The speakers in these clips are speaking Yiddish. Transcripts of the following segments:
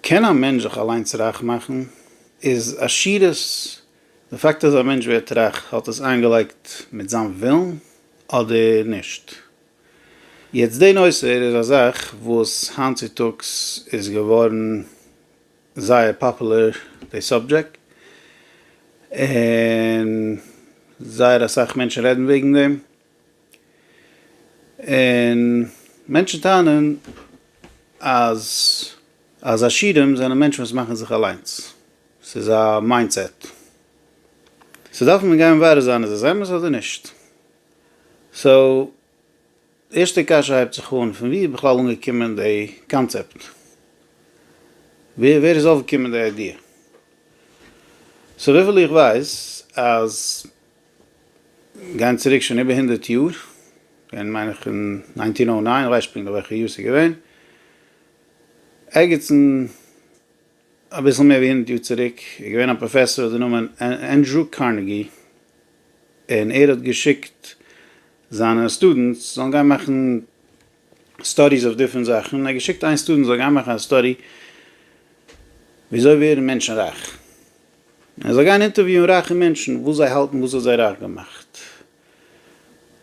קען א מענטש זיך אליינס רייך מאכן? איז עשירות, די פאקט אז א מענטש ווערט רייך, האט עס איינגעלייגט מיט זיין ווילן אדער נישט? יעצט די נושא איז א זאך וואס היינט צו טאגס איז געווארן זייער פאפולער די סאבדזשעקט, און זייער אסאך מענטשן רעדן וועגן דעם, און מענטשן טענה'ן אז אז עשירים זענען מענטשן וואס מאכן זיך אליינס. ס'איז א מיינדסעט. סאו דארף מען גיין מברר זיין איז עס אמת אדער נישט. סאו ערשטע קשיא הייבט זיך אן, פון ווי איז בכלל אנגעקומען די קאנצעפט? ווער ווער איז אויפגעקומען די איידיע? סאו וויפיל איך ווייס אז. גייען צוריק שוין איבער הונדערט יאר, געווען מיין איך אין ניינטין אוי ניין, כ'ווייס פונקט נישט וועלכע יאר ס'איז געווען, ערגעץ אין אביסל מער ווי הונדערט יאר צוריק איז געווען א פראפעסאר האט די נאמען ענדרו קארנעגי, און ער האט געשיקט זיינע סטודענטס זאלן גיין מאכן סטאדיס אויף דיפרענט זאכן, און ער האט געשיקט איין סטודענט זאל גיין מאכן א סטאדי וויאזוי ווערן מענטשן רייך. ער זאל גיין אינטערוויוען רייכע מענטשן וואס זיי האלטן וואס האט זיי רייך געמאכט,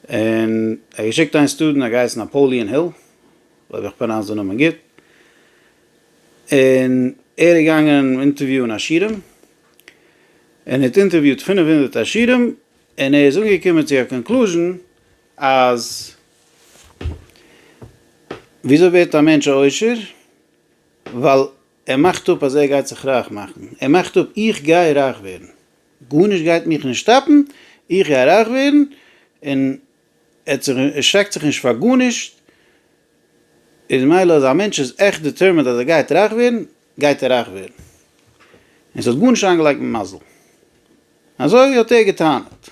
און ער האט געשיקט איין סטודענט האט געהייסן נאפאליען היל, אויב איך פראנאונס די נאמען גוט, און ער איז געגאנגען אינטערוויוען עשירים, און ער האט אינטערוויועט פֿינף הונדערט עשירים, און ער איז אנגעקומען צו א קאנקלוזשן אז וויאזוי ווערט א מענטש א עושר, ווייל ער מאכט אפ אז ער גייט זיך רייך מאכן, ער מאכט אפ איך גיי רייך ווערן, גארנישט גייט מיך נישט סטאפן, איך גיי רייך ווערן, און ער שרעקט זיך נישט פאר גארנישט, איז מילא אז א מענטש איז עכט דעטערמינד אז ער גייט רייך ווערן, גייט ער רייך ווערן, און ס'האט גארנישט איינגעלייגט מיט מזל. אזוי האט ער גע'טענה'ט.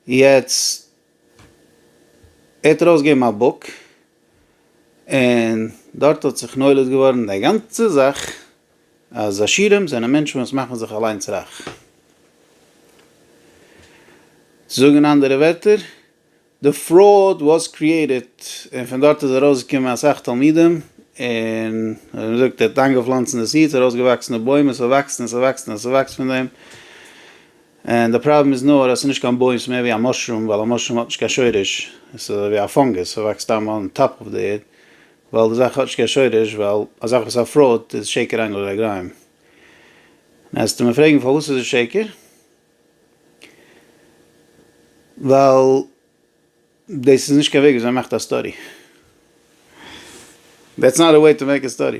יעצט ער האט ארויסגעגעבן א בוק און דארט האט זיך נולד געווארן די גאנצע זאך אז עשירים זענען מענטשן וואס מאכן זיך אליינס רייך. צו זאגן אין אנדערע ווערטער, די פראוד וואס קריעיטעד און פון דארט איז ארויסגעקומען אסאך תלמידים און ווי מען זאגט ער האט איינגעפלאנצן די סידס ארויסגעוואקסן די בוים און ס'וואקסט און ס'וואקסט און ס'וואקסט פון דעם. און די פראבלעם איז נאר אז עס איז נישט קיין בוים, עס איז מער ווי א מאשרום, ווייל א מאשרום האט נישט קיין שורש, עס איז אזוי ווי א פאנגוס, עס וואקסט סתם אן טאפ אויף די ערד, ווייל די זאך האט נישט קיין שורש, ווייל א זאך וואס איז א פראוד איז שקר אין כל רגלים. און אז וועסטו מיר פרעגן פארוואס איז עס שקר? ווייל דאס איז נישט קיין וועג וויאזוי מען מאכט א סטארי. דעטס נאט א וועי טו מעיק א סטארי.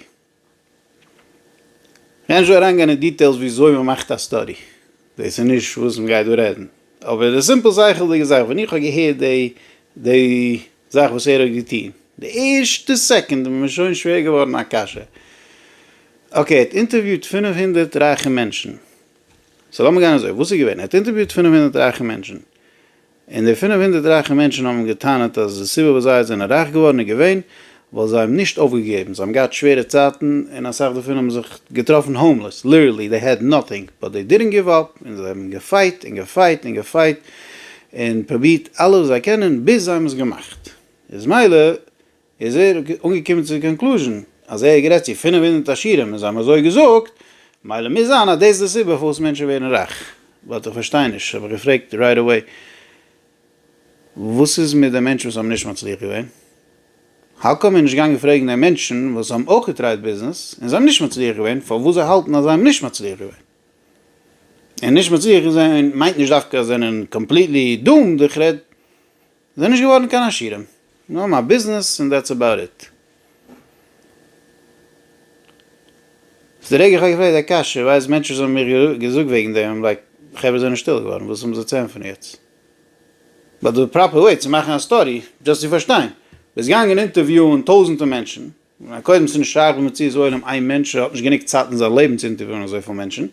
כ'גיי נישט אריינגיין אין דיטעילס וויאזוי מ'מאכט א סטאדי, דאס איז נישט וואס מ'גייט דא רעדן, אבער די סימפל שכל'דיגע זאך, ווען איך האב געהערט די די זאך וואס ער האט געטון, די ערשטע סעקונד איז מיר שוין שווער געווארן א קשיא, אקעי, ער האט אינטערוויוט פֿינף הונדערט רייכע מענטשן, סאו לאמיר גיין אזוי, וואס איז געווען? ער האט אינטערוויוט פֿינף הונדערט רייכע מענטשן. און די פינף הונדערט רייכע מענטשן האבן אים געטענה'ט אז די סיבה וואס זיי זענען רייך געווארן איז געווען ווייל זיי האבן נישט אויפגעגעבן, זיי האבן געהאט שווערע צייטן און אסאך דערפון האבן זיך געטראפן האומלעס, ליטערלי דעי העד נאטינג באט דעי דידענט גיוו אפ, און זיי האבן געפייט און געפייט און געפייט און פרובירט אלעס וואס זיי קענען ביז זיי האבן עס געמאכט, איז מילא איז ער אנגעקומען צו די קאנקלוזשען אז ער גערעדט צו פֿינף הונדערט עשירים און זיי האבן אזוי געזאגט, מילא מוז זיין אז דאס איז די סיבה פארוואס מענטשן ווערן רייך, באט איך פארשטיי נישט, האב איך געפרעגט רייט עוועי, וואס איז מיט די מענטשן וואס האבן נישט מצליח געווען? האו קאם ער איז נישט געגאנגען פרעגן די מענטשן וואס האבן אויך געטרייט ביזנעס און זיי האבן נישט מצליח געווען פארוואס זיי האלטן אז זיי האבן נישט מצליח געווען? און נישט מצליח געווען מיינט נישט דווקא אז זיי זענען קאמפליטלי דומד, איך רעד זענען נישט געווארן קיין עשירים, זיי האבן א ביזנעס און דעטס עבאוט איט. איז די רגע איך האב געפרעגט די קשיא ווייז מענטשן וואס האבן מיר געזאגט וועגן דעם האבן לייק חברה זענען שטיל געווארן וואס האבן זיי צו ענטפערן יעצט? באט די פראפער וועי צו מאכן א סטאדי, דזשאסט צו פארשטיין, ביסט געגאנגען אינטערוויאען טויזענטע מענטשן, קודם ס'נישט שייך במציאות עולם איין מענטש האט נישט גענוג צייט אין זיין לעבן צו אינטערוויאן אזויפיל מענטשן,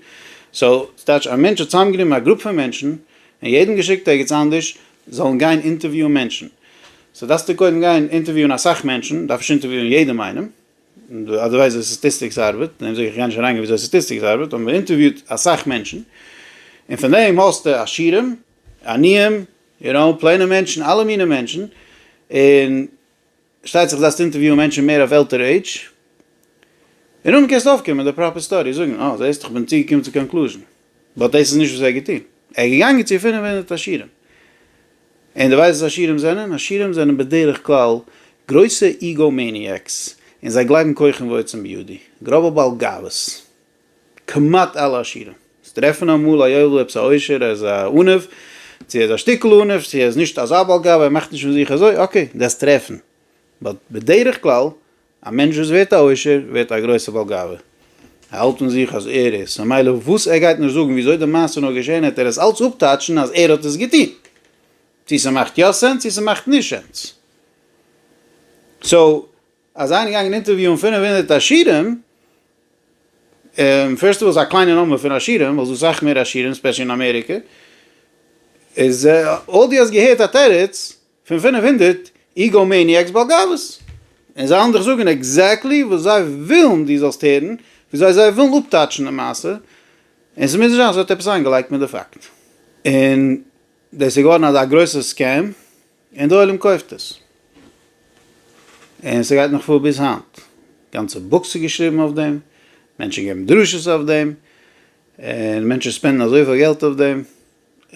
סאו ס'טייטש א מענטש האט צוזאמגענומען א גרופ פון מענטשן און יעדן געשיקט ערגעץ אנדערש זאלן גיין אינטערוויאן מענטשן, סאו דארפסטו קודם גיין אינטערוויאן אסאך מענטשן, דארפסט אינטערוויאן יעדעם איינעם, אדערווייז וויאזוי סטאטיסטיקס ארבעט, דעם זאג איך איך גיי נישט אריינגיין וויאזוי סטאטיסטיקס ארבעט, אבער מ'אינטערוויאט אסאך מענטשן און פון דעם האסטו עשירים, עניים, יו נאו, פלעינע מענטשן, אלע מיני מענטשן, און. שטייט זיך זאלסט אינטערוויוען מענטשן מער אויף עלטערע עידזש, און אנדעם קענסטו אויפקומען מיט די פראפער סטארי, זאגן אה זעסט איך בין צוגעקומען צו קאנקלוזשן, באט דאס איז נישט וואס ער האט געטון, ער איז געגאנגען צו פֿינף הונדערט עשירים, און דו ווייסט וואס עשירים זענען? עשירים זענען בדרך כלל גרויסע איגאו מעניעקס, און זיי גלייבן כוחם ועוצם בידי, גראבע בעל גאוות. כמעט אלע עשירים טרעפן אמאל א יואל אויב ס'אוישר ער איז א עניו, צו ער איז א שטיקל עניו, צו ער איז נישט אזא בעל גאווה ער מאכט נישט פון זיך אזוי, אקעי דאס טרעפן, באט בדרך כלל א מענטש וואס ווערט א עושר ווערט א גרויסע בעל גאווה, ער האלט פון זיך אז ער איז, סא מילא וואס ער גייט נישט זאגן וויאזוי די מעשה איז נאר געשען העט ער עס אלץ אפטייטשן אז ער האט עס געטון, צו ס'מאכט יא סענס צו ס'מאכט נישט סענס, סא. אז זיי זענען געגאנגען אינטערוויוען פֿינף הונדערט עשירים, און פירסט אויס א קליינע נומבער פון עשירים, ווייל ס'דא סאך מער עשירים ספעשעלי אין אמעריקע, איז אויב דו האסט געהערט א תירוץ פון פֿינף הונדערט איגאו מעניאקס בעל גאוות, און זיי וועלן דיך זאגן עקזעקטלי וואס זיי ווילן דו זאלסט הערן, וויאזוי זיי ווילן אפטייטשן די מעשה, און ס'מוז נישט זיין אז ס'ווערט עפעס איינגעלייגט מיט די פאקט, און דאס איז געווארן אזא גרויסע סקעם. און די עולם קויפט עס. און ס'גייט נאך פאר ביז היינט. גאנצע בוקס איז געשריבן אויף דעם, מענטשן געבן דרשות אויף דעם, און מענטשן ספענדן אזויפיל געלט אויף דעם,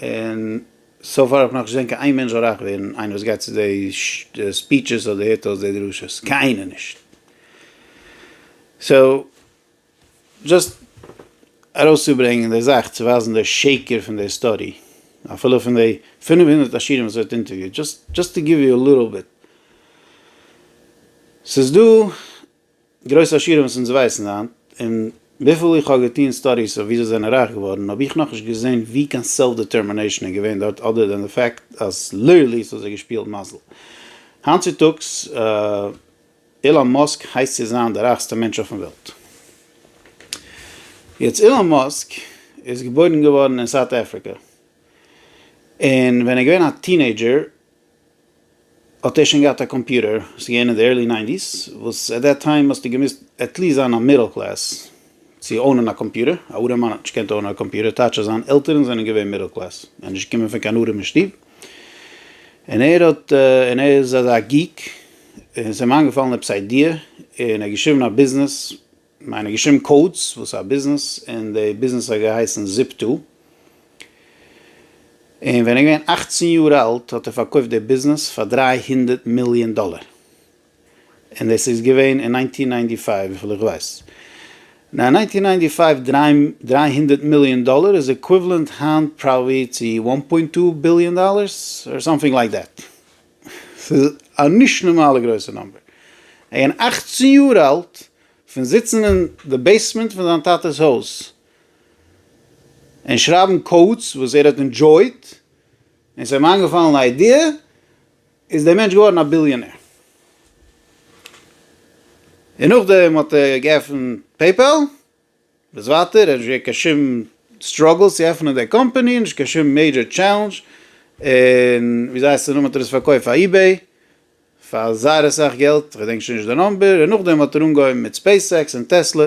און סאו פאר האב איך נאך נישט געזען קיין איין מענטש רייך ווערן, איינער וואס גייט צו די ספיטשעס אדער הערט אויס די דרשות. קיינער נישט. סאו. דזשאסט ארויסצוברענגען די זאך צו ווייזן די שקר פון די סטאדי אפילו פון די פֿינף הונדערט עשירים וואס ער האט אינטערוויוט דזשאסט טו גיוו יו א ליטעל ביט ס'איז דא גרויסע עשירים וואס אונז ווייסן היינט און וויפיל איך האב געטון סטאדיס אויף ווי זיי זענען רייך געווארן האב איך נאכנישט געזען ווי קיין סעלף דעטערמינעישן איז געווען דארט אדער דען די פאקט אז ליטערלי ס'האט זיי געשפילט מזל היינט צוטאגס. אילאן מאסק הייסט צו זיין די רייכסטע מענטש אויפן וועלט. יעצט אילאן מאסק איז געבוירן געווארן אין סאוט אפריקע, און ווען ער איז געווען א טינעידזשער האט ער שוין געהאט א קאמפיוטער, ס'איז געווען אין די ערלי ניינטיס, וואס עט דעט טיים האסטו געמוזט עטליסט זיין א מידל קלעס צו אונען א קאמפיוטער, א ארעמאן האט נישט געקענט אונען א קאמפיוטער, טייטש אז זיין עלטערן זענען געווען מידל קלעס, ער איז נישט געקומען פון קיין ארעמע שטוב. און ער האט און ער איז אזא גיק און ס'איז אים איינגעפאלן עפעס איידיע און ער האט געשריבן א ביזנעס, כ'מיין ער האט געשריבן קאודס וואס א ביזנעס און די ביזנעס האט געהייסן זיפטא, און ווען ער איז געווען אַכצן יאר אלט האט ער פארקויפט די ביזנעס פאר דרײַ הונדערט מיליאן דאלער. און עס איז געווען אין ניינטין ניינטי פייוו וויפיל איך ווייס ניין ניינטין ניינטי פייוו דריי דריי הונדערט מיליאן דאלער איז עקוויוועלענט היינט פראבעלי צו וואן פוינט טו ביליאן דאלערס אר סאמטינג לייק דעט ס'איז א נישט נארמאלע גרויסע נאמבער אין אכצן יאר אלט פון זיצן אין די בעיסמענט פון זיין טאטעס הויז און שרייבן קאודס וואס ער האט אינדזשויט און ס'האט אים איינגעפאלן א איידיע איז דער מענטש געווארן א ביליאנער, און נאכדעם האט ער געעפנט פעיפעל, וואס ווייטער? ער האט נישט געהאט קיין שום סטראגעל צו עפענען די קאמפעני, נישט קיין שום מעידזשער טשעלענדזש, און ווי זיי הייסן נאך האט ער עס פארקויפט פאר איבעי פאר זייער אסאך געלט, כ'געדענק שוין נישט די נאמבער, און נאכדעם האט ער אנגעהויבן מיט ספעיס עקס און טעסלע,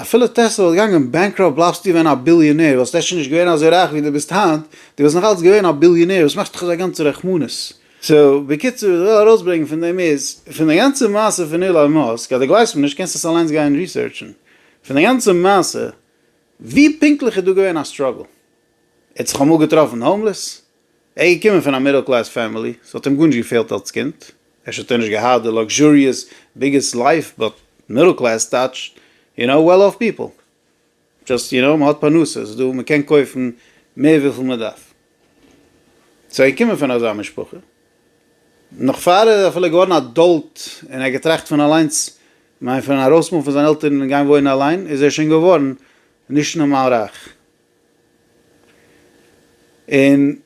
אפילו טעסלע וואלט געגאנגען בענקראפט בלייבסטו געווען א ביליאנער, וואלסט אפשר נישט געווען אזוי רייך ווי דו ביסט היינט, דו וואלסט נאכאלץ געווען א ביליאנער, וואס מאכסטו דיך אזא גאנצע רחמנות? סאו, בקיצור, וואס איך וויל ארויסברענגען פון דעם איז, פון די גאנצע מעשה פון אילאן מאסק, אז דו גלייבסט מיר נישט קענסטו עס אליינס גיין ריסערטשן, פון די גאנצע מעשה, ווי פונקטליך איז דא געווען א סטראגל? ער האט זיך אמאל געטראפן האומלעס? ער איז געקומען פון א מידל קלעס פעמילי, ס'האט אים גארנישט געפעלט אלס קינד, אפשר האט ער נישט געהאט די לאקזשעריעס ביגעסט לייף באט מידל קלעס טייטשט יו נאו וועל אף פיפל, דזשאסט יו נאו מ'האט פרנסה, ס'איז דא מ'קען קויפן מער וויפיל מ'דארף, סאו ער איז געקומען פון אזא משפחה, נאך פאר ער איז אפילו געווארן א עדאלט און ער האט געטראכט פון אליינס, כ'מיין פון ארויסמופן פון זיינע עלטערן און גיין וואוינען אליין, איז ער שוין געווארן נישט נארמאל רייך. און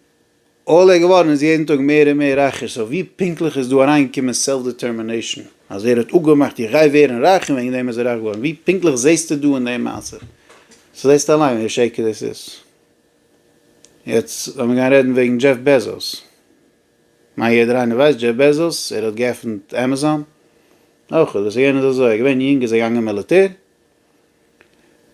עולה געווארן איז יעדן טאג מער און מער רייכער, סאו ווי פונקטליך איז דא אריינגעקומען סעלף דעטערמינעישן? אז ער האט אפגעמאכט איך גיי ווערן רייך און וועגן דעם איז ער רייך געווארן, ווי פונקטליך זעסטו דא אין דעם מעשה? סאו זעסטו אליין ווי א שקר דאס איז. יעצט לאמיר גיין רעדן וועגן דזשעף בעזאס. כ'מיין יעדער איינער ווייסט דזשעף בעזאס, ער האט געעפנט עמעזאן. נאכאמאל, דאס איז געווען אזוי, ער איז געווען יונג איז ער געגאנגען מיליטער,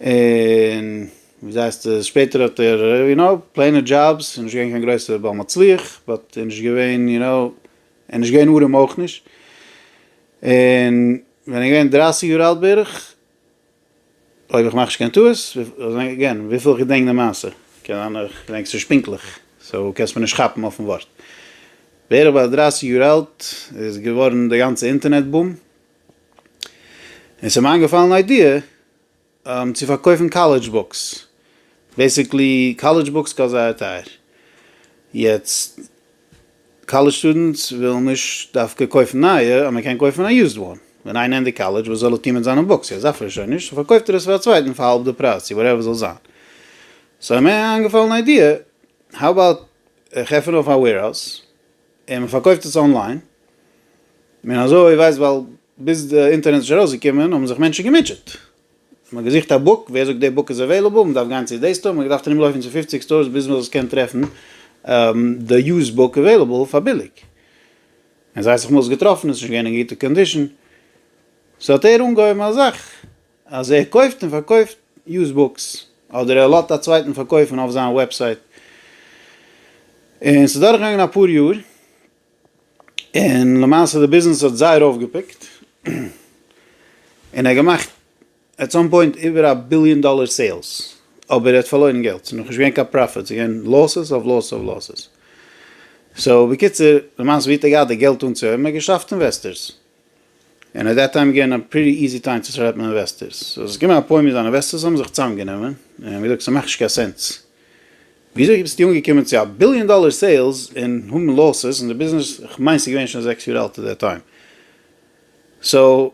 און וויאזוי הייסט עס שפעטער האט ער יו נאו פלעינע דזשאבס איז נישט געווען קיין גרויסע בעל מצליח באט ער איז נישט געווען יו נאו ער נישט געווען ארעם אויך נישט און ווען ער איז געווען דרייסיג יאר אלט בערך אויב איך מאך נישט קיין טעות אגעין וויפיל איך געדענק די מעשה קען זיין איך געדענק עס נישט פונקטליך סאו קענסט מיר נישט כאפן אויפן ווארט בערך ביי דרייסיג יאר אלט איז געווארן די גאנצע אינטערנעט בום. און ס'איז מיר איינגעפאלן איידיע צו פארקויפן קאלעדזש בוקס, בעסיקלי קאלעדזש בוקס קאסט זייער טייער, יעצט קאלעדזש סטודענטס ווילן נישט דווקא קויפן נייע, אז מען קען קויפן א יוזד וואן, ווען איינער ענדיגט קאלעדזש וואס זאל ער טון מיט זיינע בוקס, יעצט דארף ער עס שוין נישט, סאו פארקויפט ער עס פאר א צווייטן פאר האלב די פרייז צו וואטעווער ס'זאל זיין, סאו איז מיר איינגעפאלן איידיע, האו אבאוט איך עפן אויף א וועירהאוז. און מען פארקויפט עס אנליין, און אזוי ווייסט ווייל ביז די אינטערנעט איז נישט ארויסגעקומען האבן זיך מענטשן געמוטשעט, מען האט געזוכט א בוק, ווער זאגט די בוק איז עוועילעבל, מען דארף גיין צו די סטאר, מען האט געדארפט ארום לויפן צו פופציג סטארס ביז מען קען טרעפן די יוזד בוק עוועילעבל פאר ביליג, און זיי האט זיך מאז געטראפן, עס איז נישט געווען אין גוטע קאנדישן, סאו האט ער אנגעהויבן א זאך. אז ער קויפט און פארקויפט יוז בוקס, אדער ער לאזט א צווייטן פארקויפן אויף זיין וועבסייט, און ס'איז דורך געגאנגען אפאר יאר, און למעשה די ביזנעס האט זייער אויפגעפיקט, און ער האט געמאכט עט סאם פוינט איבער א ביליאן דאלער סעילס, אבער ער האט פארלוירן געלט, ס'איז נאכנישט געווען קיין פראפיט, ס'איז געווען לאסס אויף לאסס אויף לאסס, סאו בקיצור למעשה ווי האט ער געהאט די געלט אנצוהויבן, ער האט געשאפט אינוועסטערס, און עט דעט טיים געווען א פריטי איזי טיים צו סלעפן אינוועסטערס, סאו עס איז געקומען א פוינט ווי די אינוועסטערס האבן זיך צוזאמגענומען און האבן געזאגט ס'מאכט נישט קיין סענס, וויאזוי ביסטו אנגעקומען צו א ביליאן דאלער סעילס און האבן לאסס און די ביזנעס, כ'מיין ס'איז געווען שוין זעקס יאר אלט עט דעט טיים, סאו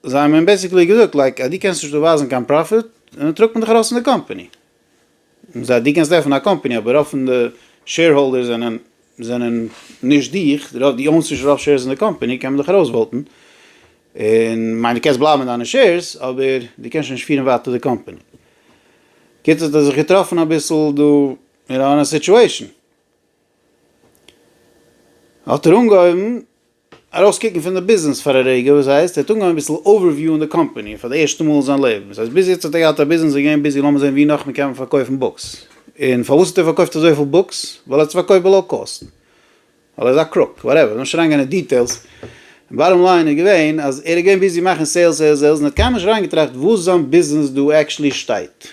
זיי האבן אים בעסיקלי געזאגט לייק אז דו קענסט נישט דא ווייזן קיין פראפיט, דערנאך טראגט מען דיך ארויס פון די קאמפאני. מען זאגט דו קענסט עפענען א קאמפעני אבער רוב פון די שעירהאלדערס זענען זענען נישט דיך, רוב די אונסט נישט רוב שעירס אין די קאמפעני קען מען דיך ארויס וואוטען, און מיין דו קענסט בלייבן מיט דיינע שעירס אבער דו קענסט שוין נישט פירן ווייטער די קאמפעני. קיצור האט ער זיך געטראפן אביסל דא אין אן א סיטועשן. האט ער אנגעהויבן ארויסקוקן פון די ביזנעס פאר א רגע, וואס הייסט? ער האט אנגעהויבן אביסל אווערוויוען די קאמפאני פאר די ערשטע מאל אין זיין לעבן, וואס הייסט ביז יעצט האט ער געהאט א ביזנעס און געווען ביזי לאמיר זען ווי נאך מען קען פארקויפן בוקס, און פארוואס האט ער פארקויפט אזויפיל בוקס? ווייל ער האט עס פארקויפט בלאו קאסט, ווייל ער איז א קרוק, וואטעווער, לאמיר נישט אריינגיין אין דיטעילס, באטאם ליין איז געווען אז ער איז געווען ביזי מאכן סעילס סעילס סעילס און ער האט קיינמאל נישט אריינגעטראכט וואס זיין ביזנעס דא עקשעלי שטייט,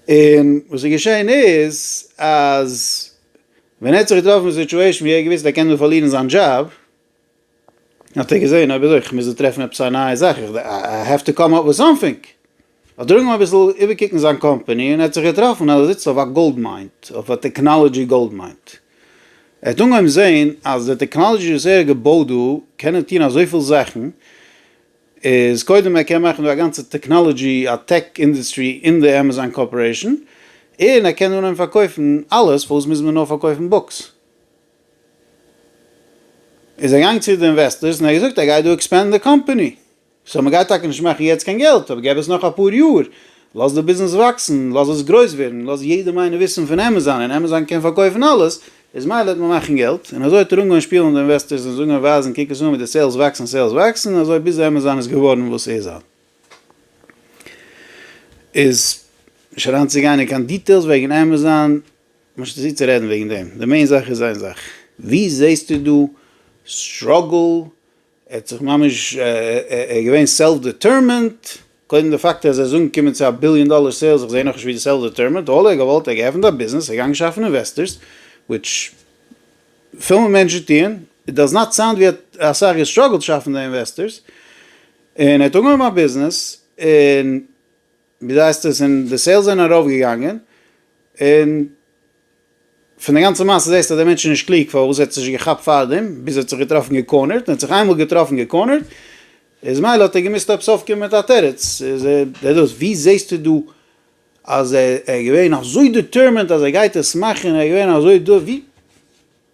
און וואס איז געשעהן איז אז ווען ער האט זיך געטראפן אין סיטואשען ווי ער האט געוויסט ער קען דא פארלירן זיין דזשאב, האט ער געזעהן אויב אזוי איך מוז דא טרעפן עפעס א נייע זאך, איך איי העוו טו קאם אפ וויט סאמטינג, האט ער אנגעהויבן אביסל איבערקוקן זיין קאמפעני, און ער האט זיך געטראפן אז ער זיצט אויף א גאלד מיין, אויף א טעקנאלעדזשי גאלד מיין, ער האט אנגעהויבן זעהן אז די טעקנאלעדזשי וואס ער האט געבויט דא קענען טון אזויפיל זאכן, איז קודם ער קען מאכן דא א גאנצע טעקנאלעדזשי א טעק אינדעסטרי אין די עמעזאן קארפארעישן און ער קען אנהייבן פארקויפן אלעס פארוואס מוז מען נאר פארקויפן בוקס? איז ער געגאנגען צו די אינוועסטערס און ער האט געזאגט ער גייט דא עקספענדן די קאמפעני סאו מען גייט טאקע נישט מאכן יעצט קיין געלט אבער געב עס נאך אפאר יאר לאז די ביזנעס וואקסן לאז עס גרויס ווערן לאז יעדעם איינעם וויסן פון עמעזאן און עמעזאן קען פארקויפן אלעס איז מילא וועט מען מאכן געלט, און אזוי האט ער אנגעהויבן שפילן די אינוועסטערס און זאגן און ווייזן קוק עס אן ווי די סעילס וואקסן סעילס וואקסן און אזוי ביז עמעזאן איז געווארן וואס ס'איז היינט. איז, נישט אריינצוגיין אין קיין דיטעילס וועגן עמעזאן, משא כ צו רעדן וועגן דעם, די מעין זאך איז איין זאך, ווי זעסטו דא סטראגל ער האט זיך ממש, ער איז געווען סעלף דעטערמענט, קודם די פאקט אז ער איז אנגעקומען צו א ביליאן דאלער סעילס, איך זעה נאכנישט ווי די סעלף דעטערמענט, אלל ער האט געוואלט, ער האט געעפנט א ביזנעס, ער איז געגאנגען שאפן אינוועסטערס, וויטש פיל מענטשן טוען, איט דאז נאט סאונד ווי ער האט אסאך געסטראגלט שאפן די אינוועסטערס, און ער האט אנגעהויבן א ביזנעס, און. ווי דייסט עס און די סעילס זענען ארויף געגאנגען און פון די גאנצע מעשה זעסטו אז דער מענטש איז נישט קלוג פארוואס ער האט עס נישט געכאפט פארדעם ביז ער האט זיך געטראפן געקארנערט און האט זיך איינמאל געטראפן געקארנערט איז מילא האט ער געמוזט עפעס אויפקומען מיט א תירוץ איז דער דאס ווי זעסטו דא אז ער איז געווען אזוי דיטערמענט אז ער גייט עס מאכן ער איז געווען אזוי דא ווי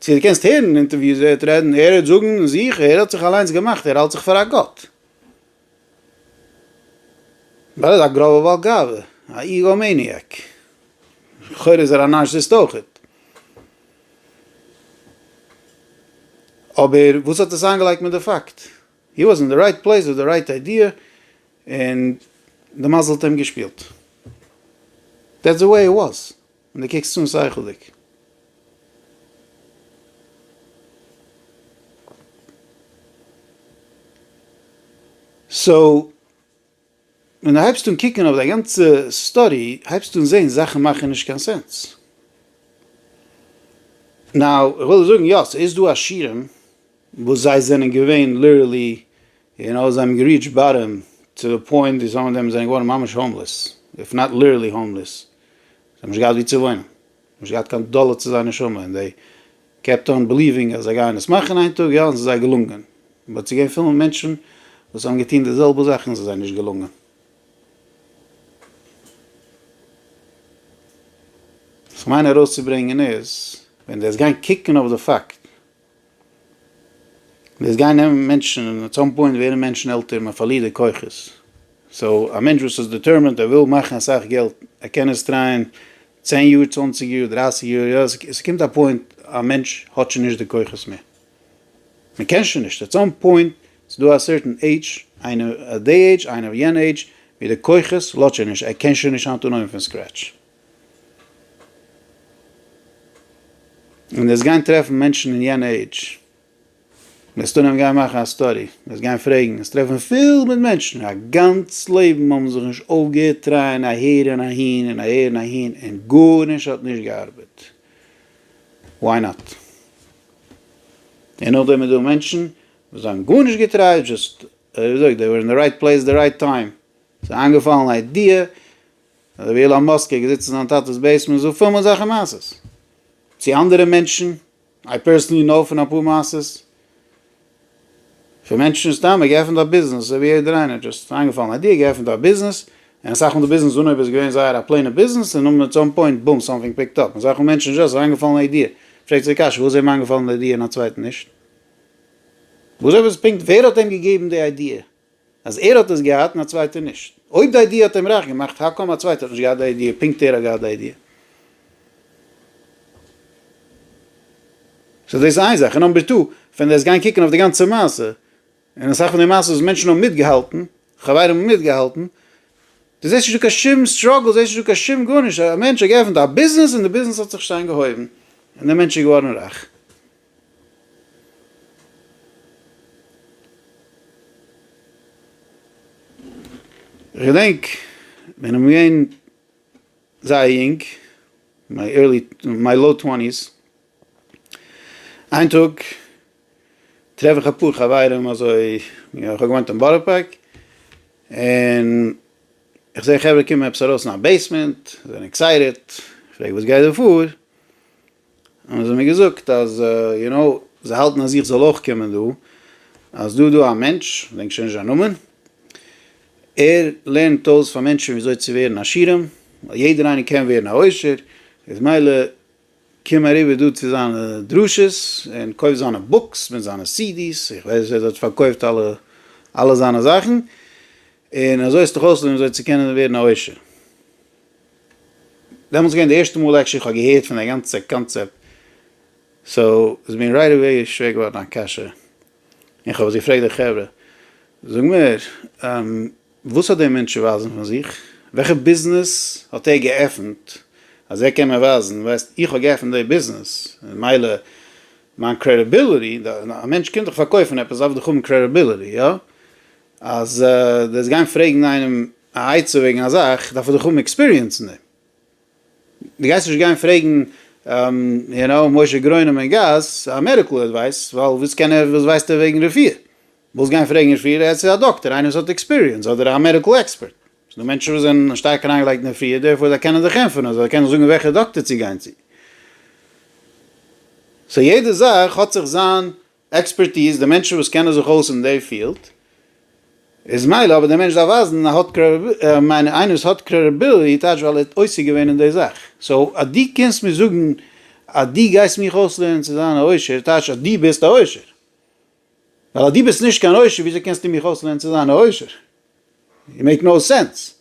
צו דו קענסט הערן אינטערוויוס ווערט רעדן ער וועט זאגן אין זיך ער האט זיך אליינס געמאכט ער האלט זיך פאר א גאט ווייל ער איז א גראבער בעל גאווה א איגאו מעניאק לכאורה איז ער א נארסיסט אויכעט אבער וואס האט עס איינגעלייגט מיט די פאקט הי וואס אין די רייט פלעיס וויט די רייט איידיע און די מזל האט אים געשפילט דעטס די וועי איט וואס. און דו קוקסט אן שכל'דיג. סאו ווען דו הייבסט אן קוקן אויף די גאנצע סטארי הייבסטו אן זעהן זאכן מאכן נישט קיין סענס. נאו איך וויל דיר זאגן יא סאיז דא עשירים וואס זיי זענען געווען ליטערלי און אויך זיי האבן געריעטשט באטעם צו די פוינט ווי סאם אוו דעם זענען געווארן ממש האומלעס, איף נאט ליטערלי האומלעס, זיי האבן נישט געהאט ווי צו וואוינען, נישט געהאט קיין דאלער צו זייער נשמה, און דעי קעפט אן בעליווינג אז זיי גייען עס מאכן איין טאג, יא און ס'איז זיי געלונגען, באט ס'געווען פיל מיט מענטשן וואס האבן געטון די זעלבע זאך און ס'איז זיי נישט געלונגען. וואס כ'מיין ארויסצוברענגען איז, ווען דו וועסט גיין קוקן אויף די פאקט. דאס גייען נעמען מענטשן און עט סאם פוינט ווערן מענטשן עלטער מען פארלירט די כוחות סאו א מענטש וואס איז דיטערמענט ער וויל מאכן אסאך געלט ער קען עס טרייען צען יאר צוואנציג יאר דרייסיג יאר יא ס'קומט א פוינט א מענטש האט שוין נישט די כוחות מער מען קען שוין נישט עט סאם פוינט ס'דא א סערטען עידזש איינער די עידזש איינער יענע עידזש ווי די כוחות לאזט שוין נישט ער קען שוין נישט אנטון אויבן פון סקרעטש. און וועסט גיין טרעפן מענטשן אין יענע עידזש, וועסט אנהייבן גיין מאכן א סטאדי, וועסט גיין פרעגן, וועסט טרעפן פיל מיט מענטשן, א גאנץ לעבן האבן זיך נישט אויפגעהערט טרייען אהער און אהין און אהער און אהין און גארנישט האט נישט געארבעט, וואי נאט? און נאכדעם איז דא מענטשן וואס זיי האבן גארנישט געטרייט, דזשאסט, ווי מ'זאגט, זיי ווערן אין די רייט פלעיס די רייט טיים, ס'איז איינגעפאלן א איידיע, אדער ווי אילאן מאסק איז געזיצן אין זיין טאטעס בעיסמענט זאגט פארמאל אזעלכע מעשות צו אנדערע מענטשן, איי פערסענלי נאו פון אפאר מעשות פון מענטשן סתם ער געפענט א ביזנעס אזוי ווי יעדער איינער דשאסט איינגעפאלן איידיע ער געפענט א ביזנעס און אסאך מאל די ביזנעס אנהויב איז געווען זייער א פלעינע ביזנעס און און עט סאם פוינט בום סאמטינג פיקט אפ אזעלכע מענטשן דשאסט זיי איינגעפאלן א איידיע פרעגט זיי די קשיא פארוואס איז אים איינגעפאלן די איידיע און א צווייטן נישט וואס אויב איז פונקט ווער האט אים געגעבן די איידיע אז ער האט עס געהאט און א צווייטער נישט. אויב די איידיע האט אים רייך געמאכט, האקאם א צווייטער האט נישט געהאט די איידיע, פונקט ער האט געהאט די איידיע? סאו דאס איז איין זאך, און נאמבער טו, ווען דו וועסט גיין קוקן אויף די גאנצע מעשה, און אסאך פון די מעשות וואס מענטשן האבן מיטגעהאלטן, חברים האבן מיטגעהאלטן, דו זעסט נישט דא קיין שום סטראגל, דו זעסט נישט דא קיין שום גארנישט, א מענטש האט געעפנט א ביזנעס און די ביזנעס האט זיך שטיין געהויבן, און דער מענטש איז געווארן רייך. כ'געדענק ווען איך בין געווען זייער יונג, מיי ערלי, מיי לאו טווענטיס, איין טאג טרעף איך אפאר חברים אזוי, איך האב געוואוינט אין בארא פארק, און איך זע חברה קומען עפעס ארויס אין א בעיסמענט, זענען עקסייטעד, פרעג וואס גייט דא פאר, האבן זיי מיר געזאגט אז יו נאו, זיי האלטן אז איך זאל אויך קומען דא, אז דא איז דא א מענטש, כ'דענק שוין נישט זיין נאמען, ער לערנט אויס פאר מענטשן ווי אזוי צו ווערן עשירים, ווייל יעדער איינער קען ווערן א עושר, איז מילא קום אריבער דא צו זיינע דרשות, און קויף זיינע בוקס מיט זיינע סידי'ס, איך ווייס ער האט פארקויפט אלע אלע זיינע זאכן, און אזוי העסטעך אויסלערנען ווי אזוי צו קענען ווערן א עושר. דעמאלטס געווען די ערשטע מאל עקשען איך האב געהערט פון די גאנצע קאנצעפט סאו איז מיר רייט עוועי שווער געווארן א קשיא און כ'האב עס געפרעגט די חברה זאג מיר וואס האט דער מענטש צו ווייזן פון זיך? וועלכע ביזנעס האט ער געעפנט אז ער קען מיר ווייזן ווייסט איך האב געעפנט די ביזנעס מילא מיין קרעדיביליטי א מענטש קומט דיך פארקויפן עפעס דארף דאך האבן קרעדיביליטי יא? אז דו וועסט גיין פרעגן איינעם א עצה וועגן א זאך דארף ער דאך האבן עקספיריענס אין דעם, דו גייסט נישט גיין פרעגן יו נאו משה גרונם אין גאס א מעדיקל עדווייס, ווייל וואס קען ער וואס ווייסט ער וועגן רפואה, זאלסט גיין פרעגן רפואה רעדטס צו א דאקטער איינער וואס האט עקספיריענס אדער א מעדיקל עקספערט, ס'איז דא מענטשן וואס זענען שטארק אריינגעלייגט אין רפואה דערפאר זיי קענען זיך ענטפערן אזוי זיי קענען זאגן וועלכע דאקטער צו גיין צו, סאו יעדע זאך האט זיך זיין עקספערטיז, די מענטשן וואס קענען זיך אויס אין די פיעלד, איז מילא, אבער די מענטש דארף ווייזן אז האט מיינען איינער וואס האט קרעדיביליטי טייטש ווייל ער האט עוסק געווען אין די זאך, סאו אז דו קומסט מיר זאגן אז דו גייסט מיך אויסלערנען צו זיין א עושר טייטש אז דו ביסט א עושר, ווייל אז דו ביסט נישט קיין עושר וויאזוי קענסטו מיך אויסלערנען צו זיין א עושר? יו מעיק נאו סענס.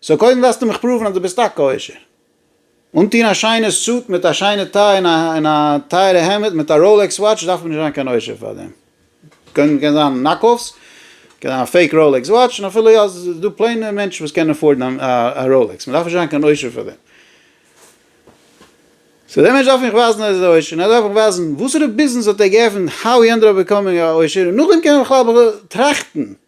סאו קודם דארפסטו מיך פראוון אז דו ביסט טאקע עושר. אנטוהן א שיינע סוט מיט א שיינע טיי און א טייערע העמד מיט א ראלעקס וואטש דארף מען נישט זיין קיין עושר פאר דעם. קען זיין נאק אף'ס, קען זיין א פעיק ראלעקס וואטש, און אפילו יא איז דא פלעינע מענטשן וואס קענען עפארדן א ראלעקס. מ'דארף נישט זיין קיין עושר פאר דעם. סאו דער מענטש דארף מיך ווייזן אז ער איז עושר און ער דארף מיך ווייזן וואסערע ביזנעס האט ער געעפנט, האו הי ענדעד אפ ביקאמינג א עושר, און נאכדעם קען מען בכלל טראכטן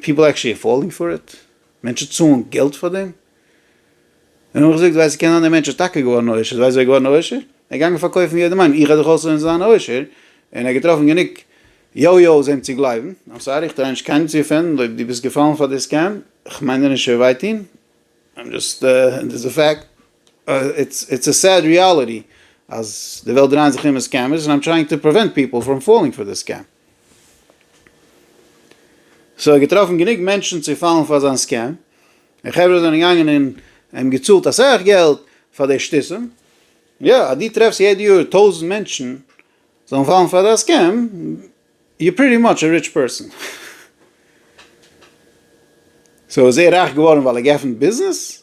פיפל עקטשעלי עפארדינג פאר איט, מענטשן צאלן געלט פאר דעם, און נאך געזאגט ווייסט קען זיין דער מענטש איז טאקע געווארן עושר, ווייסט ווער איז געווארן עושר? ער איז געגאנגען פארקויפן יעדעם איינעם איך וועל דיך אויסלערנען צו זיין עושר, און ער האט געטראפן גענוג יו יו'ס אים צו גלייבן, איים סארי איך טריי נישט קיינעם צו אפענדן, אויב דו ביסט געפאלן פאר די סקעם, איך מיין דיר נישט צו וויי טון, איים דזשאסט, דאס איז א פעקט. איטס א סעד ריאליטי אז די וועלט דרייען זיך ארום סקעמערס און איים טרייאינג טו פריווענט פיפל פראם פאללינג פאר די סקעם. סאו ער האט געטראפן גענוג מענטשן צו פאלן פאר זיין סקעם און חברה זענען געגאנגען און אים געצאלט אסאך געלט פאר די שטותים. יא, אז דו טרעפסט יעדע יאר טויזנט מענטשן זאלן פאלן פאר דיין סקעם, יו פריטי מאטש א ריטש פערסאן. סאו איז ער רייך געווארן ווייל ער האט געעפנט ביזנעס?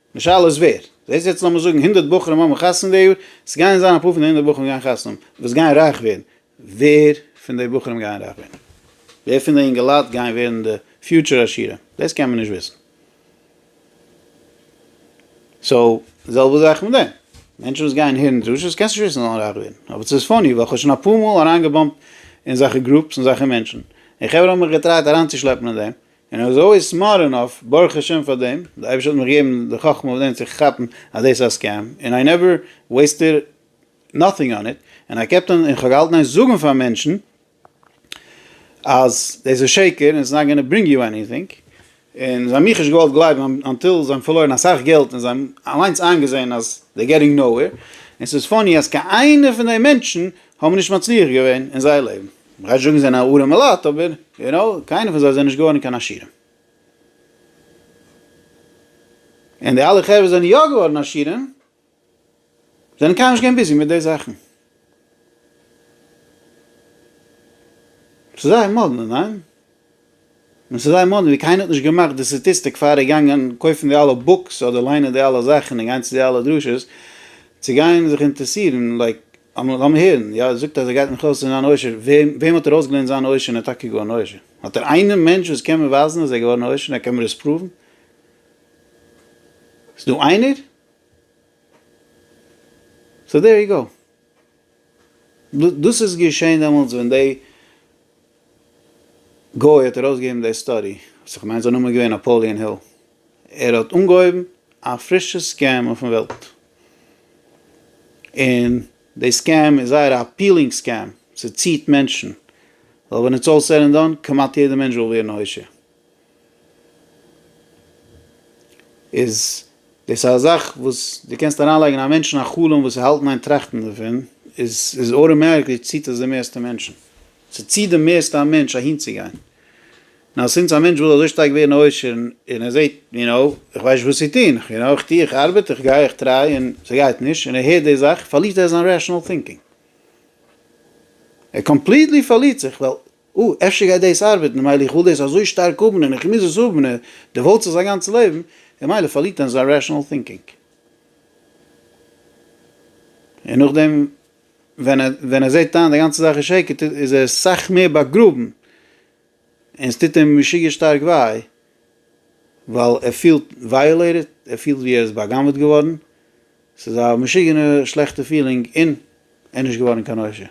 די שאלה איז ווער. זעסט יעצט לאמיר זאגן הונדערט בחורים האבן חתונה די יאר, עס גייען זיין אפאר פון די הונדערט בחורים גייען חתונה האבן וואס גייען רייך ווערן, ווער פון די בחורים גייען רייך ווערן? ווער פון די אינגעלייט גייען ווערן די פיוטשער עשירים? דאס קען מען נישט וויסן. סאו, די זעלבע זאך מיט דעם. מענטשן וואס גייען הערן דרשות קענסט נישט וויסן זאלן רייך ווערן. אבער ס'איז פאני ווייל כ'האב שוין אפאר מאל אריינגעבאמפט אין זאכע גרופס און זאכע מענטשן, און חברה האבן מיך געטרייט אריינצושלעפן אין דעם, און אזוי סמארט ענאף, ברוך השם פאר דעם, די אייבערשטער האט מיך געגעבן די חכמה אויף דעם צו כאפן אז דאס איז א סקעם, און איי נעווער וועיסטעד נאטינג אן איט, און איי קעפט אן, און כ'האב געהאלטן נישט זאגן פאר מענטשן אז דאס איז שקר און ס'איז נאט גאנא ברינג יו עניטינג, און זיי האבן מיך נישט געוואלט גלייבן אנטיל זיי האבן פארלוירן אסאך געלט און זיי האבן אליינס איינגעזען אז דעי געטינג נאו וועיר, און ס'איז פאני אז קיין איינער פון דעי מענטשן האבן נישט מצליח געווען אין זייער לעבן. מ'גייט זאגן זיי זענען א ארעמע לאט אבער יו נאו קיינער פון זיי זענען נישט געווארן קיין עשירים. און די אלע חברה זענען יא געווארן עשירים זענען קיינמאל נישט געווען ביזי מיט די זאכן. ס'איז זייער מאדנע, ניין? און ס'איז זייער מאדנע ווי קיינער האט נישט געמאכט די סטאטיסטיק פאר די גאנגען קויפן די אלע בוקס אדער ליינען די אלע זאכן און גיין צו די אלע דרשות צו גיין זיך אינטערעסירן לייק לאמיר הערן יא ער זאגט אז ער גייט מיך אויסלערנען זיין עושר וועם וועם האט ער אויסגעלערנט זיין עושר און ער איז טאקע געווארן עושר האט ער איינעם מענטש וואס קען מיר ווייזן אז ער איז געווארן עושר און ער קען מיר עס פראוון איז דא איינער? סאו דער יו גאו. דאס איז געשען דעמאלטס ווען די גוי האט ארויסגעגעבן די סטאדי, וואס איך מיין זיין נאמען איז געווען נאפאליען היל, ער האט אנגעהויבן א פרישע סקעם אויפן וועלט, און די סקעם איז זייער א אפילינג סקעם, ס'ציט מענטשן, ווייל ווען איטס אלל סעד ענד דאן, כמעט יעדע מענטש וויל ווערן א עושר. איז דאס א זאך וואס דו קענסט אריינלייגן א מענטשן א חלום וואס האלט אין איין טראכטן דערפון, איז איז אויטאמעטיקלי ציט עס די מערסטע מענטשן, ס'ציט די מערסטע א מענטש אהינצוגיין, נאר סינס א מענטש וויל אזוי שטארק ווערן א עושר און ער זעט יו נאו איך ווייס נישט וואס צו טון, איך יו נאו איך טו איך ארבעט איך גיי איך טריי און ס'גייט נישט און ער הערט די זאך פארלירט ער זיין רעשענאל טינקינג, ער קאמפליטלי פארלירט זיך ווייל. או, אפשר גייט דאס ארבעטן, ממילא איך וויל דאס אזוי שטארק האבן און איך מוז עס האבן און דער וואלט זיך זיין גאנצע לעבן, און ממילא פארלירט ער זיין רעשאנעל טינקינג. און נאכדעם ווען ער זעט איין די גאנצע זאך איז שקר טוט איז ער סאך מער באגראבן און עס טוט אים משוגע שטארק וויי ווייל ער פילט ווייאלעיטעד, ער פילט ווי ער איז בא'גנב'עט געווארן. ס'איז א משוגענע שלעכטע פילינג און ער איז נישט געווארן קיין עושר.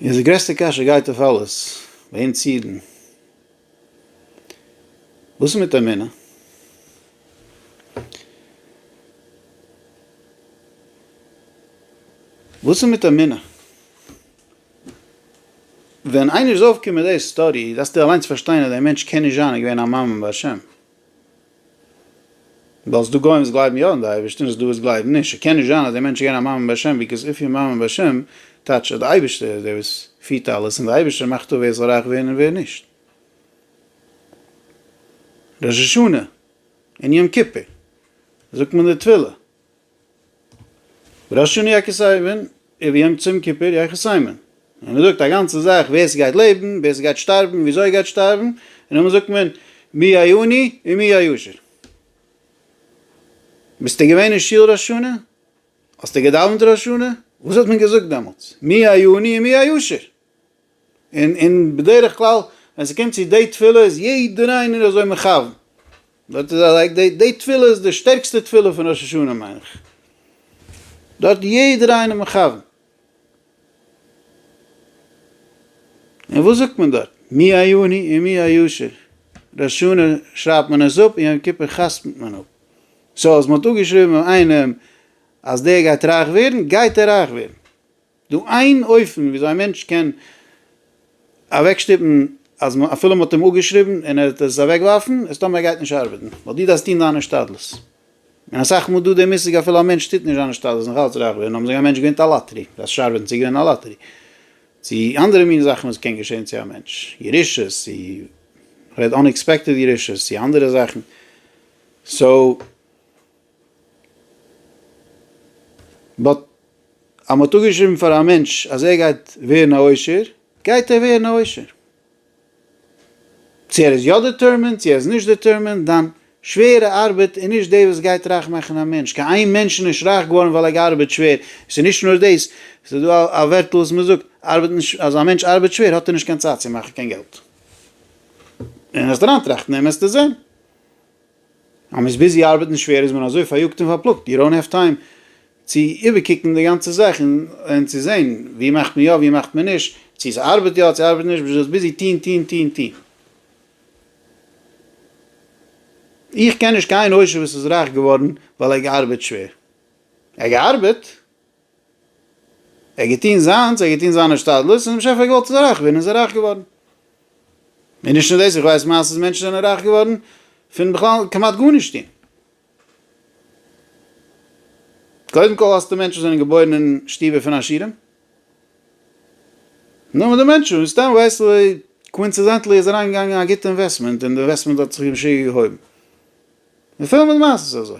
און די גרעסטע קשיא גייט אויף אלעס ביי אונז אידן, וואס איז מיט אמונה? וואס איז מיט אמונה? ווען איינער איז אויפגעקומען מיט די סטארי דארפסטו אליינס פארשטיין אז די מענטש קען נישט זיין געווען א מאמין בהשם. ווייל ס'דא גוים וואס גלייבן יא אין די אייבערשטען און ס'דא וואס גלייבן נישט, ס'קען נישט זיין אז דער מענטש איז געווען א מאמין בהשם ביקאוז איף יו מאמין בהשם טייטשט אז די אייבערשטער איז דער וואס פירט אלעס און די אייבערשטער מאכט אפ ווער זאל רייך ווערן און ווער נישט. ראש השנה און יום כיפור זאגט מען די תפילה. ראש השנה יח כסייוון און ווי אויך צום כיפור יח כסייוון, און מען זאגט א גאנצע זאך ווער ס'גייט לעבן, ווער ס'גייט שטארבן, וויאזוי ער גייט שטארבן, און נאכדעם זאגט מען מי העני ומי העשיר. ביסטו געווען אין שול ראש השנה? האסטו געדאווענט ראש השנה? וואס האט מען געזאגט דעמאלטס? מי העני ומי העשיר. און און בדרך כלל ווען ס'קומט צו די תפילה איז יעדער איינער אזוי מכוון, דארט איז א לייק די די תפילה איז די שטערקסטע תפילה פון ראש השנה מיין איך, דארט איז יעדער איינער מכוון. און וואס זאגט מען דארט? מי היוני און מי הישר, ראש השנה שרייבט מען עס אפ און יום כיפור חתמ'ט מען אפ, סאו אז מ'האט אפגעשריבן איינעם אז דער גייט רייך ווערן, גייט ער רייך ווערן, דו איין אופן וויאזוי א מענטש קען אוועקשטופן אז מ אפילו מ'האט אים אפגעשריבן און ער וועט עס אוועקווארפן איז טאמער ער גייט נישט ארבעטן ווייל דו דארפסט טון דיין השתדלות און אסאך מאל דא די מושג אפילו א מענטש טוט נישט זיין השתדלות נאך אלץ רייך ווערן האבן זיי א מענטש געווינט א לאטערי דארפסט נישט ארבעטן צו געווינען א לאטערי צו אנדערע מין זאכן וואס קען געשען צו א מענטש ירושות צו כ'רעד אנעקספעקטעד ירושות צו אנדערע זאכן סאו. באט אז מ'האט אפגעשריבן פאר א מענטש אז ער גייט ווערן א עושר, גייט ער ווערן א עושר. צו ער איז יא דעטערמינד צו ער איז נישט דעטערמינד, דיין שווערע ארבעט איז נישט דאס וואס גייט רייך מאכן א מענטש, קיין איין מענטש איז נישט רייך געווארן ווייל ער געארבעט שווער, עס איז נישט נאר דאס, עס איז דא א ווערטל וואס מען זאגט, ארבעט נישט, אז א מענטש ארבעט שווער האט ער נישט קיין צייט צו מאכן קיין געלט. און וועסט אריינטראכטן און וועסטו זען. אז מען איז ביזי ארבעטן שווער איז מען אזוי פאריאגט און פארפלאגט יו דאונט העוו טיים צו איבערקוקן די גאנצע זאך און צו זעהן ווי מאכט מען יא ווי מאכט מען נישט צו ס'ארבעט יא צו ארבעט נישט ביזט ביזי טוהן טוהן טוהן טוהן. איך קען נישט קיין עושר וואס איז רייך געווארן ווייל ער האט געארבעט שווער. ער האט געארבעט? ער האט געטון זיינס, ער האט געטון זיינע השתדלות, און דער באשעפער האט געוואלט ער זאל רייך ווערן, און ער איז רייך געווארן. און נישט נאר דאס, איך ווייס מעשה'ס מענטשן זענען רייך געווארן פון בכלל כמעט גארנישט טון. קודם כל האסטו מענטשן זענען געבוירן אין שטובער פון עשירים. נאר די מענטשן וואס סתם ווייסט ווי קווינצעזענטלי איז אריין געגאנגען א גוטע אינוועסטמענט און די אינוועסטמענט האט זיך משוגע געהויבן. און פול מיט מעשה'ס אזוי.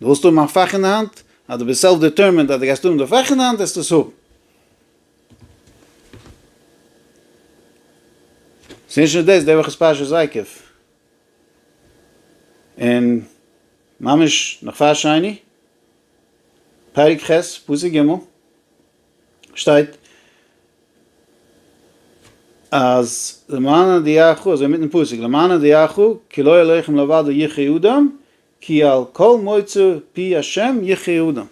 דו ווילסט האבן א פאך אין די האנט? אז דו ביסט סעלף דעטערמינד אז דו גייסט האבן די פאך אין די האנט וועסטו עס האבן. ס'איז נישט נאר דאס, די וואך איז פרשת ויקף, און ממש נאך פאר שני, פרק ח' פסוק ג', שטייט אז למען הודיעך, אזוי מיטן פסוק, למען הודיעך כי לא אלהיכם לבדו יחיה אדם, כי על כל מוצא פי השם יחיה אדם.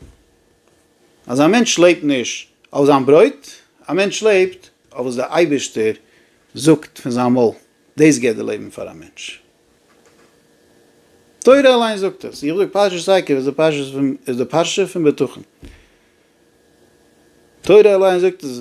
אז א מענטש לעבט נישט אויף זיין ברויט, א מענטש לעבט אויף וואס דער אייבערשטער זאגט פון זיין מויל, דאס גיבט די לעבן פאר א מענטש. תורה אליין זאגט עס. איך זאג פרשת עקב איז די פרשה פון איז די פרשה פון בטחון. תורה אליין זאגט עס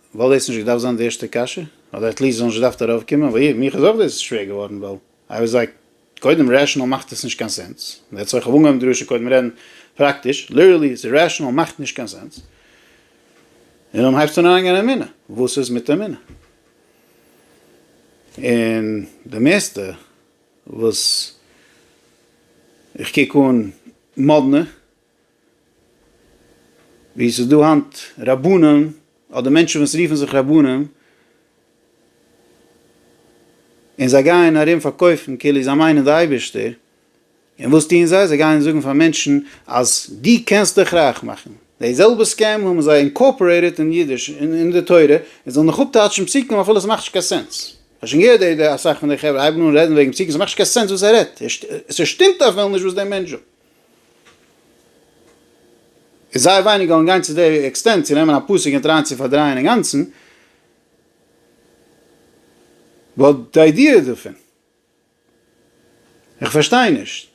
וואלט דאס נישט געדארפט זיין די ערשטע קשיא, אדער עטליסט זאל נישט געדארפט ארויף קומען, וויי, מיך איז אויך דאס שווער געווארן, ווייל איי וואס לייק, קודם רעשענאל מאכט עס נישט קיין סענס, דעטס וואי איך האב אנגעהויבן די דרשה קודם רעדן פראקטיש, ליטערלי איז רעשענאל מאכט נישט קיין סענס, און דאן הייבסט אן אריינגיין אין אמונה, וואס איז מיט אמונה? און די מערסטע וואס איך קוק אן מאדנע ווי עס איז דא היינט רבנים אדער מענטשן וואס רופן זיך רבנים, און זיי גייען ארום פארקויפן כאילו זיי מיינען די אייבערשטער, און וואס טוען זיי? זיי גייען זאגן פאר מענטשן אז דו קענסט דיך רייך מאכן, די זעלבע סקעם האבן זיי אינקארפארעיטעד אין אידיש אין די תורה, און זאלן נאך אפטייטשן פסוקים אפילו עס מאכט נישט קיין סענס, כ'האב שוין געהערט די אסאך פון די חברה הייבן אן רעדן וועגן פסוקים, עס מאכט נישט קיין סענס וואס ער רעדט, עס שטימט אפילו נישט וואס דער מענטש זאגט. איז זייער ווייניג געוואלן גיין צו די עקסטענט צו נעמען א פסוק און טרייען צו פארדרייען אינגאנצן, באט די איידיע דערפון, איך פארשטיי נישט,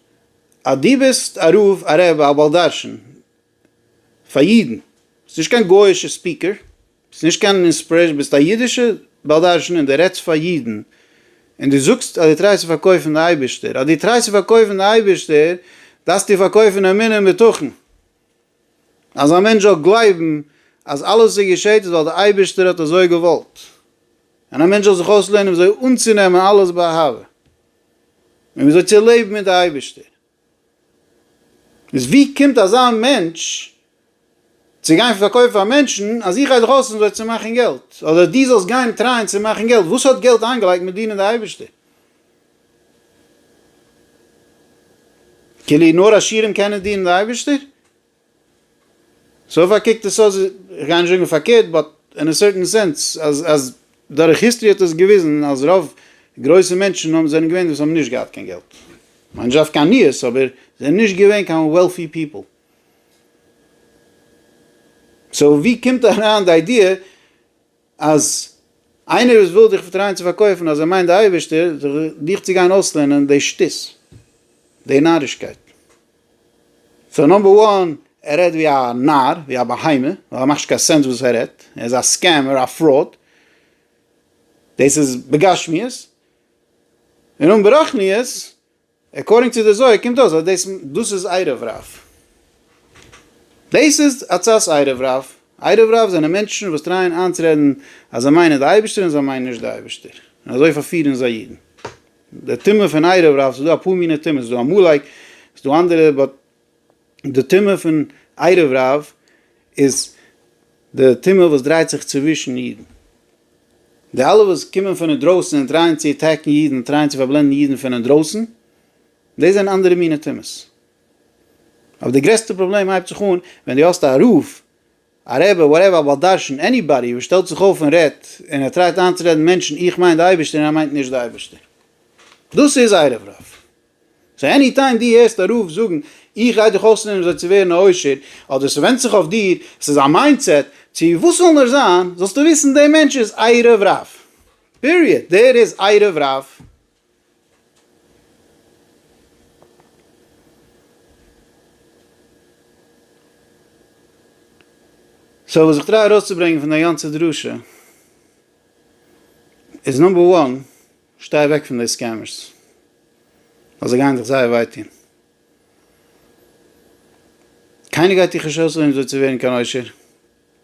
אז דו ביסט א רב, א בעל דרשן, פאר אידן, ביסט נישט קיין גויאישע ספיקער, ביסט נישט קיין אינספרעישן, ביסט א אידישע בעל דרשן און די רעדסט פאר אידן, און די זאגסט אז די טרייסט צו פארקויפן די אייבישטער, אז די טרייסט צו פארקויפן די אייבישטער דארפסטו פארקויפן אמונה און בטחון, אז א מענטש זאל גלייבן אז אלעס וואס געשעט איז ווייל די אייבישטער האט אזוי געוואלט, און א מענטש זאל זיך אויסלערנען וויאזוי אנצונעמען אלעס באהבה, און וויאזוי צו לעבן מיט די אייבישטער. איז ווי קומט אזא מענטש צו גיין פארקויפן פאר מענטשן אז איך גיי דיך אויסלאזן זיי צו מאכן געלט, אדער דו זאלסט גיין טרייען צו מאכן געלט, וואס האט געלט איינגעלייגט מיט דינען די אייבערשטער? כאילו נאר עשירים קענען דינען די אייבערשטער? סאו פאר קוקט עס אויס, כ'גיי נישט זאגן פארקערט, באט אין א סערטען סענס, אז אז דורך היסטערי האט עס געוויזן אז רוב גרויסע מענטשן האבן זענען געווען וואס האבן נישט געהאט קיין געלט, כ'מיין נישט דווקא עניות, אבער זענען נישט געווען קיין וועלפי פיפל. סאו ווי קומט אריין די איידיע אז איינער וואס וויל דיך טרייען צו פארקויפן אז ער מיינט די אייבערשטער זיך דיך צו גיין אויסלערנען די שטות, די נארישקייט. סאו נאמבער וואן, ער רעדט ווי א נאר, ווי א בהמה, ווייל ער מאכט נישט קיין סענס וואס ער רעדט, ער איז א סקעמער, א פראוד, דאס איז בגשמיות, און און ברחניות, עקארדינג צו די זוהר קומט אויס אז דאס דאס איז עירוב רב. דאס איז הצעת עירוב רב. עירוב רב זענען מענטשן וואס טרייען איינצורעדן אז זיי מיינען די אייבערשטער און זיי מיינען נישט די אייבערשטער, און אזוי פארפירן זיי אידן. די טעמע פון עירוב רב, ס'איז דא אפאר מיני טעמעס, ס'איז דא עמלק, ס'איז דא אנדערע באט. די טעמע פון עירוב רב איז די טעמע וואס דרייט זיך צווישן אידן. די אלע וואס קומען פון אינדרויסן און טרייען צו עטעקן אידן, טרייען צו פארבלענדן אידן פון אינדרויסן, דאס זענען אנדערע מיני טעמעס. אבער די גרעסטע פראבלעם הייבט זיך אן ווען דו האסט א רב, א רעבע, וואטעווער, א בעל דרשן, עניבאדי וואס שטעלט זיך אויף און רעדט, און ער טרייט איינצורעדן מענטשן איך מיין די אייבערשטער און ער מיינט נישט די אייבערשטער. דאס איז עירוב רב. סאו עני טיים דו הערסט א רב זאגן איך גיי דיך אויסלערנען וויאזוי צו ווערן א עושר, אדער ס'ווענדט זיך אויף דיר, ס'איז א מיינדסעט, צו וואס זאל נאר זיין, זאלסטו וויסן דער מענטש איז עירוב רב. פיריעד. דער איז עירוב רב. סאו וואס איך טריי ארויסצוברענגען פון די גאנצע דרשה איז נאמבער וואן, שטיי אוועק פון די סקעמערס, ווייל זיי גייען דיך זייער וויי טון. קיינער גייט דיך נישט אויסרעדן אזוי צו ווערן קיין עושר,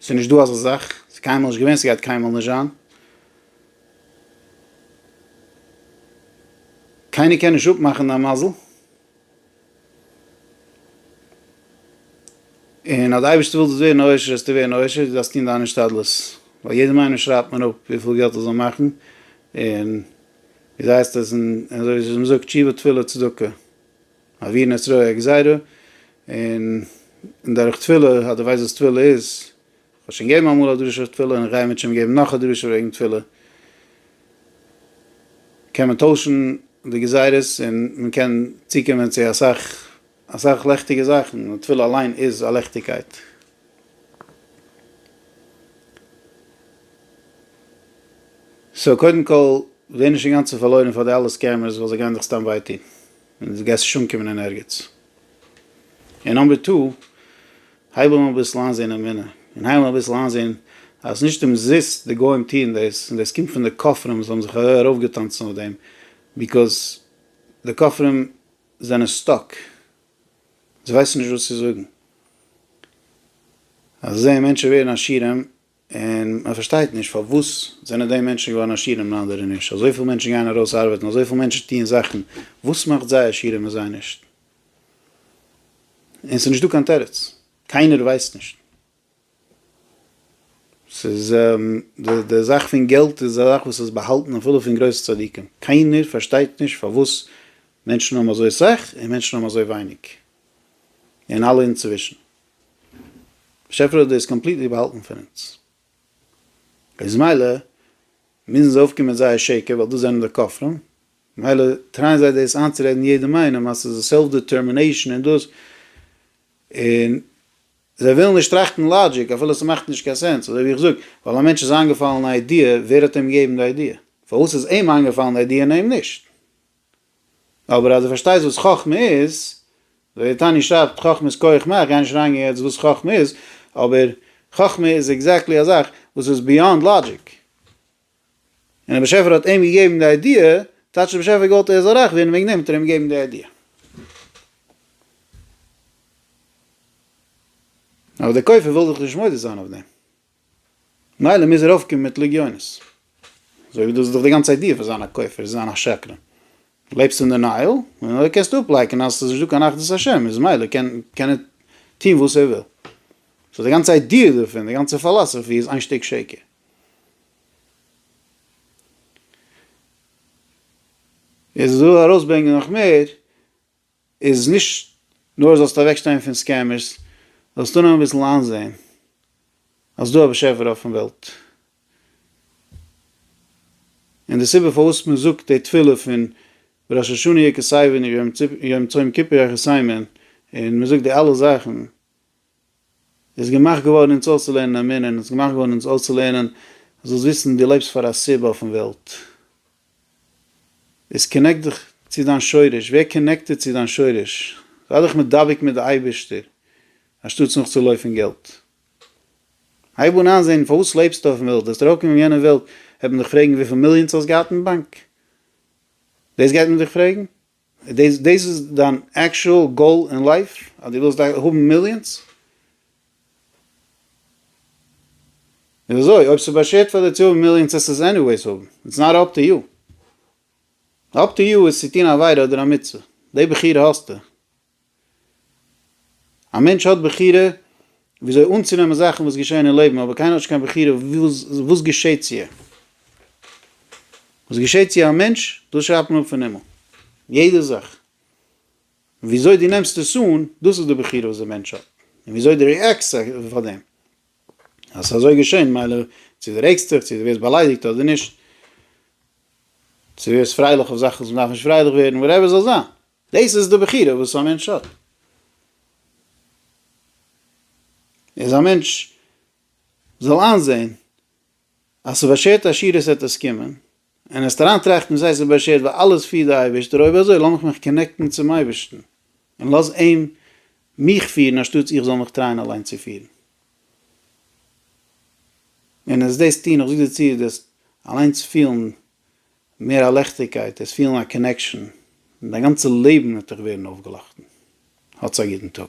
ס'איז נישט דא אזא זאך, ס'איז קיינמאל נישט געווען, ס'גייט קיינמאל נישט זיין. קיינער קען נישט אפמאכן דיין מזל, און אז די אייבערשטער וויל דאס ווערן עושר זאלסטו ווערן עושר, דו דארפסט טון דיין השתדלות, ווייל יעדעם איינעם שרייבט מען אפ וויפיל געלט ער זאל מאכן, און ווי אזוי הייסט עס, און אזוי ווי מ'זאגט תשובה תפילה צדקה, מעבירין את רוע הגזירה, און דורך תפילה, אז דו ווייסט וואס תפילה איז, כ'האב שוין געגעבן אמאל א דרשה אויף תפילה און כ'גיי אמת שמים געבן נאך א דרשה וועגן תפילה. קען מען טוישן די גזירות און מען קען צוקומען צו אסאך אסאך לעכטיגע זאכן, די תפילה אליין איז א לעכטיגקייט. סאו קודם כל ווער נישט אינגאנצן פארלוירן פאר די אלע סקעמערס ווייל זיי גייען דיך סתם וויי טון און דו גייסט נישט אנקומען אין ערגעץ. און נאמבער טו, הייב אן אביסל איינזעהן אמונה, און הייב אן אביסל איינזעהן אז נישט אומזיסט די גוים טוען דאס, און דאס קומט פון די כופרים וואס האבן זיך ארויפגעטאנצן אויף דעם, ביקאוז די כופרים זענען סטאק, זיי ווייסן נישט וואס צו זאגן, אז זיי זעען מענטשן ווערן עשירים, און מען פארשטייט נישט פארוואס זענען די מענטשן געווארן עשיר און אנדערע נישט, אזויפיל מענטשן גייען ארויס ארבעטן, אזויפיל מענטשן טוען זאכן, וואס מאכט זיי עשיר און זיי נישט? און ס'איז נישט דא קיין תירוץ, קיינער ווייסט נישט. ס'איז די די זאך פון געלט איז א זאך וואס איז באהאלטן אפילו פון גרויסע צדיקים, קיינער פארשטייט נישט פארוואס מענטשן האבן אזוי סאך און מענטשן האבן אזוי ווייניג, און אלע אינצווישן. באשעפער האט דאס קאמפליטלי באהאלטן פון אונז, איז מילא מוזן זיי אויפקומען מיט זייער שקר ווייל דאס זענען די כופרים, מילא טרייען זיי דאס איינצורעדן יעדעם איינעם אז ס'איז א סעלף דעטערמינעישאן און דאס, און זיי ווילן נישט טראכטן לאגיק אפילו ס'מאכט נישט קיין סענס, אזוי ווי איך זאג, ווייל א מענטש איז איינגעפאלן א איידיע, ווער האט אים געגעבן די איידיע? פארוואס איז אים איינגעפאלן די איידיע און אים נישט? אבער אז דו פארשטייסט וואס חכמה איז, ווער תעני שרייבט חכמה איז כח מה, כ'גיי נישט אריינגיין יעצט וואס חכמה איז, אבער חכמה איז עקזעקטלי א זאך וואס איז ביאנד לאגיק, און דער באשעפער האט אים געגעבן די איידיע, טייטש דער באשעפער האט געוואלט ער זאל רייך ווערן וועגן דעם האט ער אים געגעבן די איידיע. אבער דער כופר וויל דאך נישט מודה זיין אויף דעם. מילא מוז ער אויפקומען מיט לגיונות. אזוי ווי דאס איז דאך די גאנצע איידיע פון זיין א כופר, זיין א שקרן. לעבסט אין דענייעל, און אזוי קענסטו אפלייקענען אז עס איז נישט דא קיין אחדות השם, איז מילא קען קען ער טון וואס ער וויל. סאו די גאנצע איידיע דערפון, די גאנצע פילאסעפי איז איין שטיק שקר. עס איז דא ארויסברענגען נאך מער. איז נישט נאר זאלסטו אוועק שטיין פון סקעמערס, זאלסטו אנהייבן אביסל איינזעהן אז ס'דא א באשעפער אויפן וועלט, און די סיבה פארוואס מען זאגט די תפילה פון ראש השנה יקר סיון און יום צום כיפור אחיסיימען און מען זאגט די אלע זאכן, איז געמאכט געווארן אונז אויסצולערנען א מנין, איז געמאכט געווארן אונז אויסצולערנען, זאלסט וויסן דו לעבסט פאר א סיבה אויפן וועלט, איז קאנעקט דיך צו דיין שורש, ווער קאנעקטעד צו דיין שורש, זיי דיך מדבק מיט די אייבערשטער, אנשטאטס נאכצולויפן געלט, הייב אן איינזען פארוואס לעבסטו אויפן וועלט, וועסט ארויפקומען אין יענע וועלט וועט מען דיך פרעגן וויפיל מיליאנס האסט געהאט אין באנק, דאס גייט מען דיך פרעגן? דאס איז דיין עקשועל גאול אין לייף? אז דו ווילסט האבן מיליאנס? איז אזוי, אויב ס'איז באשערט פאר דיר צו האבן מיליאנס העסטו עס עניוועיס האבן, איטס נאט אפ טו יו. אפ טו יו איז צו טון א עבירה אדער א מצוה, די בחירה האסטו. א מענטש האט בחירה וויאזוי אנצונעמען זאכן וואס געשעהן אין לעבן, אבער קיינער האט נישט קיין בחירה וואס געשעהט צו אים. וואס געשעהט צו א מענטש, דאס שרייבט מען אפ פון הימל. יעדע זאך. וויאזוי דו נעמסט עס אן, דאס איז די בחירה וואס די מענטש האט. און וויאזוי דו רעאקסט פאר דעם. אז ס'איז אזוי געשעהן, מילא צו דו רעגסט דיך, צו דו ווערסט באליידיגט אדער נישט. צו דו ווערסט פרייליך אויף זאכן וואס מ'דארף נישט פרייליך ווערן, וואטעווער ס'זאל זיין. דאס איז די בחירה וואס א מענטש האט. איז א מענטש זאל איינזעהן אז ס'באשערט עשירות עט עס קומען, און ער וועט אריינטראכטן וואס הייסט ס'באשערט ווייל אלעס פירט די אייבערשטער, אויב אזוי לאמיך מיך קאנעקטן צום אייבערשטן, און לאז אים מיך פירן אנשטאטס איך זאל מיך טרייען אליין צו פירן. און עס דאס טון, איך זאג דיר צו, דאס אליינס פילן מער א לעכטיגקייט, עס פילן א קאנעקשאן, און דיין גאנצע לעבן וועט דיך ווערן אויפגעלאכטן. האטס א גוטן טאג.